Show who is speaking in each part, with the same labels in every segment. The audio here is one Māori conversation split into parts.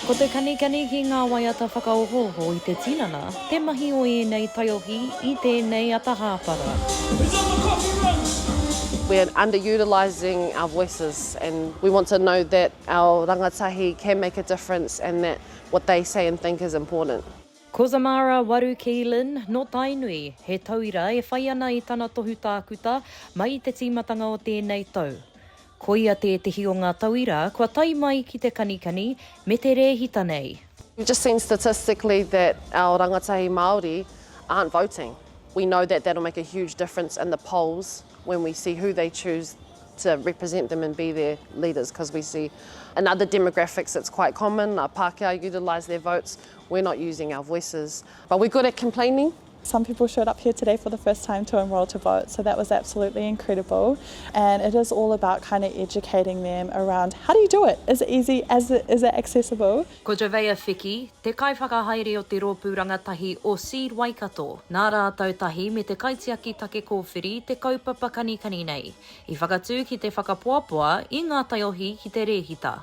Speaker 1: Ko te kanikani ki ngā waiata whakaohooho i te tinana, te mahi o ēnei taiohi i tēnei ata hāpara.
Speaker 2: We are underutilising our voices and we want to know that our rangatahi can make a difference and that what they say and think is important. Cozumara
Speaker 1: Waru Keelan, nō Tainui, he tauira e whai ana i tana tohu tākuta mai i te tīmatanga o tēnei tau. Koia tētehi o ngā tauira kua tae mai ki te kanikani me te rēhita nei. We've just seen
Speaker 2: statistically that our rangatahi Māori aren't voting. We know that that'll make a huge difference in the polls when we see who they choose to represent them and be their leaders, because we see in other demographics it's quite common, Pākehā utilise their votes, We're not using our voices but we're good at complaining. Some people showed up
Speaker 3: here today for the first time to enrol to vote so that was absolutely incredible and it is all about kind of educating them around how do you do it, is it easy, is it, is it accessible. Ko Joveya Fiki,
Speaker 1: te kaiwhakahaere o te rōpū rangatahi o Seed Waikato, nā rātou tahi me te kaitiaki take kōwhiri te kaupapa kanikani nei, i whakatū ki te whakapoapoa i ngā taiohi ki te rēhita.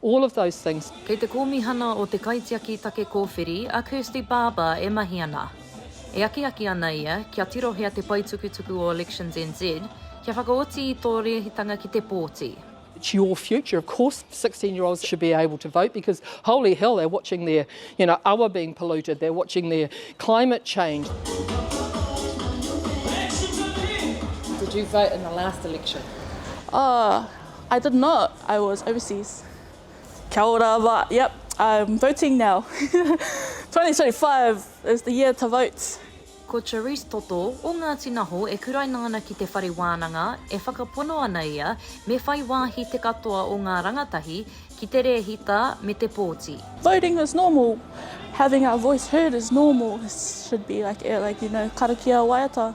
Speaker 4: All of those things. Kei te Kōmihana
Speaker 1: o te Kaitiaki Take Kōwhiri a Kirsty Barber e mahi ana. E akiaki ana ia kia tirohia te paetukutuku o Elections NZ kia whakaoti i tō rēhitanga ki te pōti. It's your future,
Speaker 4: of course sixteen year olds should be able to vote because holy hell they're watching their you know awa being polluted, they're watching their climate change. Did you
Speaker 1: vote in the last election?
Speaker 5: Oh. I did not, I was overseas. Kia ora wa, yep, I'm voting now. 2025 is the year to vote. Ko Charisse
Speaker 1: Toto, o Ngāti Naho e kuraina ana ki te whare wānanga, e whakapono ana ia me whai wāhi te katoa o ngā rangatahi ki te rēhita me te pōti. Voting is normal,
Speaker 5: having our voice heard is normal, should be like, like you know, karakia waiata,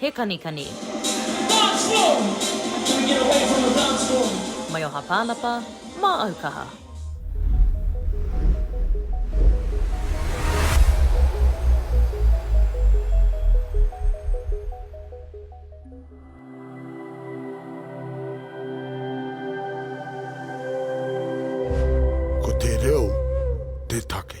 Speaker 1: He kanikani. Dance floor! Can we get away from the dance floor? Mai oha pānapa, mā au kaha.
Speaker 6: Ko te reo te take.